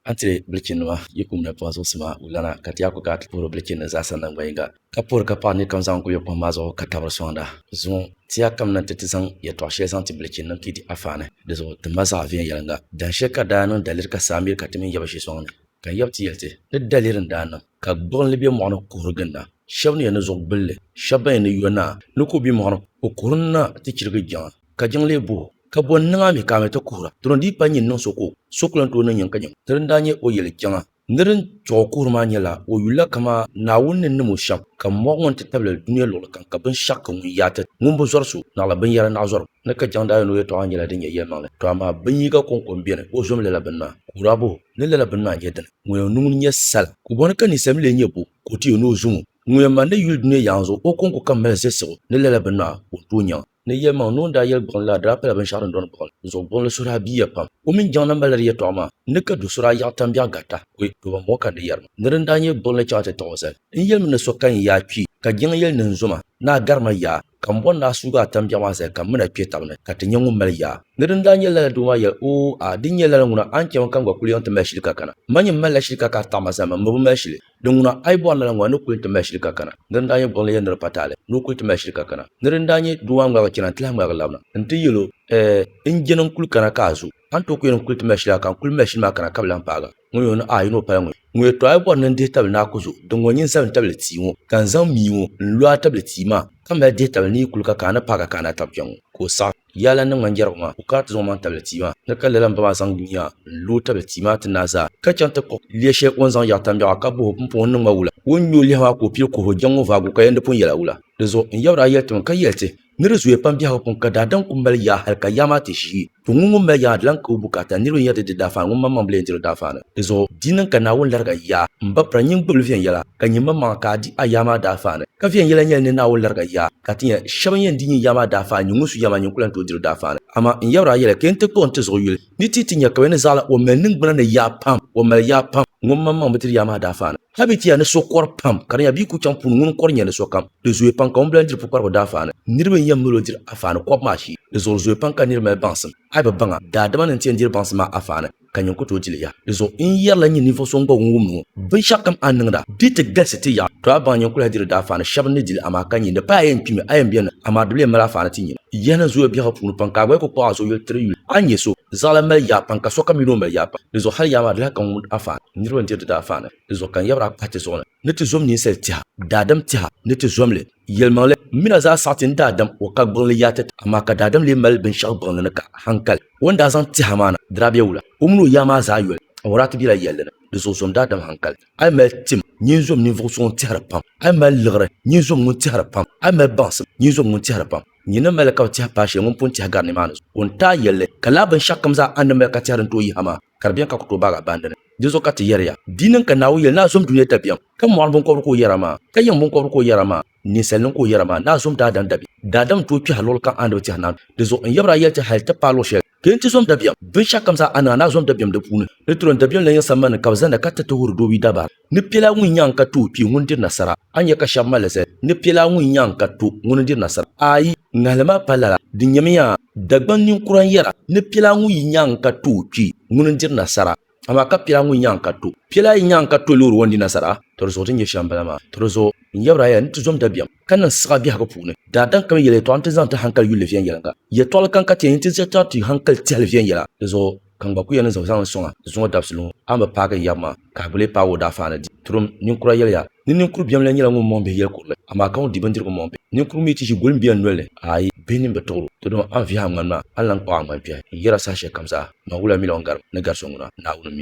A ti bilichinnima, yi kum ni pɔhisi ɔsi maa wulana, ka ti a ku ka a ti puhiri o bilichinnim zaa sa naŋgban yiŋga, ka puhiri ka paɣa nirikom zaŋ guli o kɔhim maa zuɣu ka tabiri sɔŋda. Zuŋɔ, ti a kamina nti ti zaŋ yɛtɔɣ shɛli zaŋ ti bilichinnim ka yi di a faani. Di zuɣu ti ma zaɣ viɛnyɛliŋga. Dahin shɛli ka daa niŋ daliri ka saa miri ka ti mini yaba ʒi sɔŋ ni, ka n yab ti yɛli ti ni daliri n-daa niŋ, ka gbuɣinli be mɔɣu ni kuhiri ginda, shɛb ni yɛn ni zuɣu gbulli, shɛb ban yɛn ni yo naa ni ka o be mɔɣu ni o kuhiri naa ti chirigi jiŋa, ka jiŋ lee bo o. Ka bɔ n-niŋ a mi ka a mi ti kuhira? Dama di yi pa nyin niŋ so ka o, so ku lan tooi niŋ nyin ka nyin. Di ni daa nyɛ o yɛli kpiɔŋa ni din tuɣ o kuhiri maa nyɛla o yuli la kaman Naawuni ni nim o shɛm, ka mɔɣi ŋɔ nti tabili dunia luɣili kam ka binshɛɣu ka ŋun yaati ŋun bi zɔri so naɣila binyɛra naɣizɔrigu ni ka jaŋ daayoni o yɛtɔɣa nyɛla din nyɛ yɛlimaŋli. Tɔ amaa binyiga kɔŋko m-beni o zom lala bini maa, ka o daa bɔh o, Ni lala bini maa n-nyɛ dini? Ŋun yɛn niŋ n nyɛ sala? Ka bɔ ni ka ninsal mi lee nyɛ bɔ ka o ti yɛn ni o zom o? Ŋun yɛn mali ni yuli dunia yaanzu o kɔŋko kam mali zilsigu ni lala bini maa, ka o ni tooi nyaŋ a? Ni yɛlimaŋli ni o ni daa yɛli gbuɣinli la di daa pala binshɛɣu din dɔni gbuɣinli zuɣu gbuɣinli so daa biiya pam o mini Jiŋ namba la di yɛtɔɣa maa n ni ka do so daa yaɣi tambiɛɣu garita o yi tooba m-bɔŋɔ ka n di yɛri ma ni di ni daa nyɛ gbuɣinli chaŋ ti tiɣi o zali n yɛlimi ni so kayin yaa kpi ka Jiŋ yɛli ni n zo ma ni a gari ma yaa ka m bɔri ni a suugi a tambiɛɣu maa zali ka m mini a kpe tab ni ka ti nyɛ ŋun mali yaa ni di ni daa nyɛ lala doo maa yɛli oo a di nyɛ lala ŋuna a ni chɛ ma ka n gba kuli yiŋ ti mali shili ka kana ma nyɛ m malila shili ka ka a taɣi ma zali ma mi bi mali shili Di ŋuna, a yi bɔri lala ŋɔ, a ni kul ti mali shili ka kana. Nir n-daa nyɛ gbuɣinli yɛn nir pa taali, ni o kul ti mali shili ka kana. Nir n-daa nyɛ doo a ni ŋmaligi chana, nti lahi ŋmaligi labina. Nti yɛl o, Ɛɛ, n jɛni n-kul kana ka a zo. A ni tooi ku yɛn n-kul ti mali shili a ka n kul mali shili maa kana ka bi lahi paag a. Ŋun yɛn ni, Aa! Yi ni o pala ŋun? Ŋun yɛl tɔ, A yi bɔri ni n dihi tabili ni a ku zo, di ŋɔ nyini sabin tabili tia ŋɔ, ka n zaŋ mii ŋɔ n-lo a tabili tia maa, ka mali dihi tabili ni yi kul ka ka a ni paag a ka a ni a tab kpɛŋ ŋɔ, ka o saɣim. Yaa lan niŋ ma n-yɛrigu maa, ku kana ti zaŋ omaŋ tabili tia maa ni ka lala m-ba maa zaŋ dunia n-lo o tabili tia maa ti naai zaa, ka chaŋ ti kpuɣi lia shɛli o ni zaŋ yaɣi tambiɛɣu a ka boh o pumpɔŋɔ n-niŋ ma wula. O ni nyo lihi maa ka o pili kuhi o jaŋ o vaagu ka yɛn di pun yɛla wula. Di zuɣu n yabri a yɛli ti mi ka yɛli ti, Ni di zooya pam biɛhigu puŋ ka daadam ku mali yaa hal ka yaa maa ti ʒii, to ŋun ŋun mali yaa maa di lan ka o bukaata ni niriba n-yɛri di di daafaan ŋun maŋmaŋ bi lee diri o daafaan. Di zuɣu di niŋ ka Naawuni lariga yaa m-ba pira nyin gbibili viɛnyɛla, ka nyin maŋmaŋa ka a di a yaa maa daafaan. Ka viɛnyɛla nyɛli ni Naawuni lariga yaa. Ka ti nya shɛba ni yɛn di nyin ya maa daafaan nyin ŋun su ya maa nyin ku lan tooi dir o daafaan ni. Amaa n yɛbir a yɛla, Kpe n-ti kpuɣ n-ti zuɣu yuli, ni ti yi ti nya ka bɛ ni zaɣila o mali niŋgbuna ni yaa pam, o mali yaa pam, ŋun maŋmaŋ bi dir yaa maa daafaan ni. Hal bɛ ti ya ni so kɔr pam, ka di nya bɛ yi ku chaŋ puuni ŋun kɔr nya ni sokam, di zooya pam ka ŋun bi lan diri pukparigu daafaan ni. Niriba n-yɛn mali o dir afaani kɔbu maa shee. Di zuɣuri zooya pam ka nir mali baŋsim, a yi bi baŋ a, daadama ni n-ti yɛn diri baŋsim maa afaani. ka nyin ku tooi dili yaha. Di zuɣu n yɛrila n ni ninvuɣ so ŋ-gba wum wumdi ŋɔ, Binshɛɣu kam a ni niŋda, di ti galisi ti yaɣi. To a baŋ nyin kul-lahi diri daafaani shɛb ni dili, amaa ka nyin di paai a yɛn kpimi, a yɛn beni na, amaa di bi lee mali a faani ti nyin. Yaha niŋ zooya biɛhigu puuni pam, ka a gba yi ku kpuɣ a zuɣu yuli tiri yuli, a ni nya so, zaɣila mali yaha pam, ka sokam mi ni o mali yaha pam. Di zuɣu hal yaha maa di lahi kan wumd a faani. Niriba n-diri di daafaani, di zuɣu ka n yabir a kpahiti zuɣu ni. ni ti zom ninsal tɛha, daadam tɛha ni ti zom li, yɛlimaŋli mina zaa saɣi ti ni daadam o ka gbiŋli yaati ti, amaa ka daadam lee mali binshɛɣu gbiŋli ni ka haŋkali. O ni daa zaŋ tɛha maa na dira bɛ wula, o mini o yaa maa zaa yoli awɔraa ti bela yɛlli ni, di zuɣu zom daadam haŋkali. A yi mali tim, nyin zom ninvuɣ so ŋun tɛhiri pam. A yi mali liɣiri, nyin zom ŋun tɛhiri pam. A yi mali baŋsim, nyin zom ŋun tɛhiri pam. Nyin ni mali li ka bi tɛhi paai shɛli ŋun pun tɛhi gari nimaani zuɣu, o ni taai yɛl li, ka lala binshɛɣu kam zaa a ni mali ka tɛhiri n-ti o yiha maa. ka di beni ka ku tooi baag a baŋ dini. Dinzuɣu ka ti yɛri ya, di yi niŋ ka Naawuni yɛli ni a zom dunia dabiɛm, ka mɔɣiri biŋkɔbiri ka o yɛra maa, ka yiŋ biŋkɔbiri ka o yɛra maa, ninsalinim ka o yɛra maa, ni a zom daadam dabiɛm. Daadam n-tooi kpɛhi luɣili kam a ni bi tɛhi naanu. Dinzuɣu n yɛbir a yɛli ti hal ti paai luɣ shɛli ka yɛn ti zom dabiɛm. Binshɛɣukam zaa a niŋ a ni a zom dabiɛm di puuni, di tiri o ni dabiɛm la yiŋ sambani ni ka bɛ zanda ka tiriti huri doobi dabaa. Ni piɛlaa ŋun nyaŋ ka to kpi ŋuni diri nasara? A ni nya ka shɛba mali li zali, Ni piɛlaa ŋun nyaŋ ka to ŋuni n-diri nasara? Aai! Ŋahili maa pa lala, di nyɛmi ya! Dagbaŋ ninkura n-yɛra ni piɛlaa ŋun yi nyaŋ ka to o kpee ŋuni n-diri nasara, amaa ka piɛlaa ŋun nyaŋ ka to piɛlaa yi nyaŋ ka to loori ŋɔ n-di nasara, tɔ di zuɣu ti ni nyɛ shɛm m-bala maa. Tɔ di zuɣu n yɛbir a yɛla ni ti zom dabiɛm ka niŋ siɣa biɛhigu puuni. Daadam kam yɛli yɛtɔɣa nti zaŋ ti haŋkali yulli viɛnyɛliŋga. Yɛtɔɣili kam ka ti yɛn nyin ti ʒiɛtɔɣa ti haŋkali tihili viɛnyɛla di zuɣu. Ka n gba ku yɛn niŋ zaŋzaŋ n-sɔŋ a ni zuŋɔ dabisili ŋɔ, a ni bi paagi n yaba maa, ka a bi lee paagi o daafeani di. Turim, ninkura yɛliya, Ni ninkur biɛm lan nyɛla ŋun mɔŋ bihi yɛl kurili, amaa ka ŋun di bindirigu mɔŋ bihi, ninkur mi ti ʒi goli m-be n nol ni, aai, bihi nini bi tuɣir o. Didɔŋ a ni vihi a ŋmani maa, a ni lan kpuɣ a ŋmani kpɛhi. N yɛr a saha shɛlikam zaa, Naawula mi lan garim, ni gari so ŋuna, Naawuni mi o.